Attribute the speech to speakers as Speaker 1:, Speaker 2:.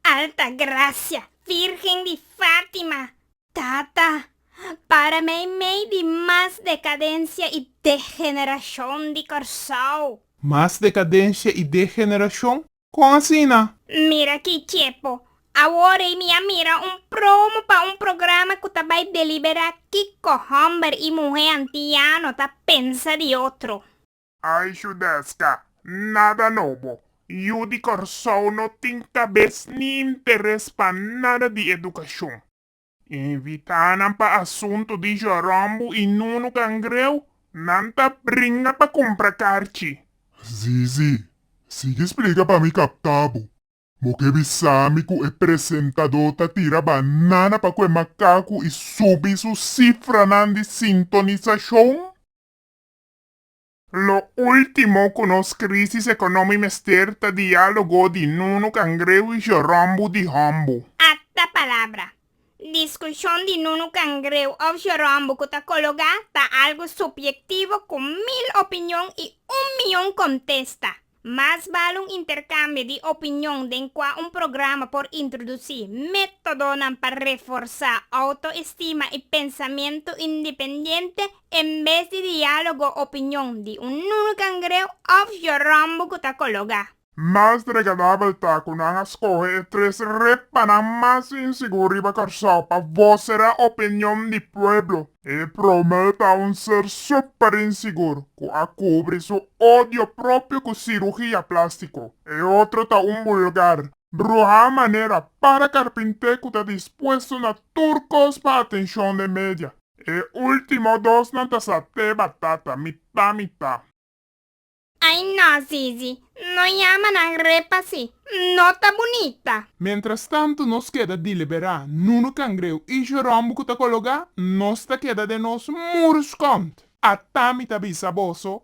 Speaker 1: Altagracia, Virgen di Fatima, Tata, para mei mei di mas decadencia y degeneracion di Corsou. Mas decadencia y degeneracion? Con asina? Mira aki Chepo, awor ey mi a mira un promo pa un programa cu ta bay delibera kico homber y muhe antiano ta pensa di otro. Ay Judesca, nada nobo. Yu di Corsou no tin cabes ni interes pa nada di educacion. Invitanan pa asunto di Jorombo y Nunu Cangreu, nan ta bringa pa cumpra carchi. Si, si. Sigui splica pa mi capta bo. Bo ke bisa mi cu e presentador ta tira banana pa cu e macacu y subi su cifranan di sintonisacion? Lo ultimo cu nos crisis economi mester ta dialogo di Nunu Cangreu y Jorombo di Hombo. Acta palabra. Discusion di Nunu Cangreu of Jorombo cu ta cologa ta algo subyectivo cu mil opinion y un miyon contesta. Mas bal un interkambio di opinion den kua un programa por introdusí métodonan pa reforsá outoestima i pensamentu independiente en bes di diálogo opinion di un nunu kangreu òf joròmbo ku ta kologá. Mas dregradabel ta ku nan a skohe e tres repanan mas insigur riba Kòrsou pa voserá opinion di pueblo. E prome ta un ser super insigur cu a cubri su odio propio cu cirugia plastico. E otro ta un bulgar, bruha manera para carpinte cu ta dispuesto na tur cos pa atencion den media. E ultimo dosnan ta sa te batata, mita mita. Ai no Zizi, no yama nan re pa si, no ta bunita. Mientras tanto nos keda diliberá, Nuno Cangreu i Jerome ku ta kologá, nos ta keda den nos murus kònt. Atá mi ta bisa boso.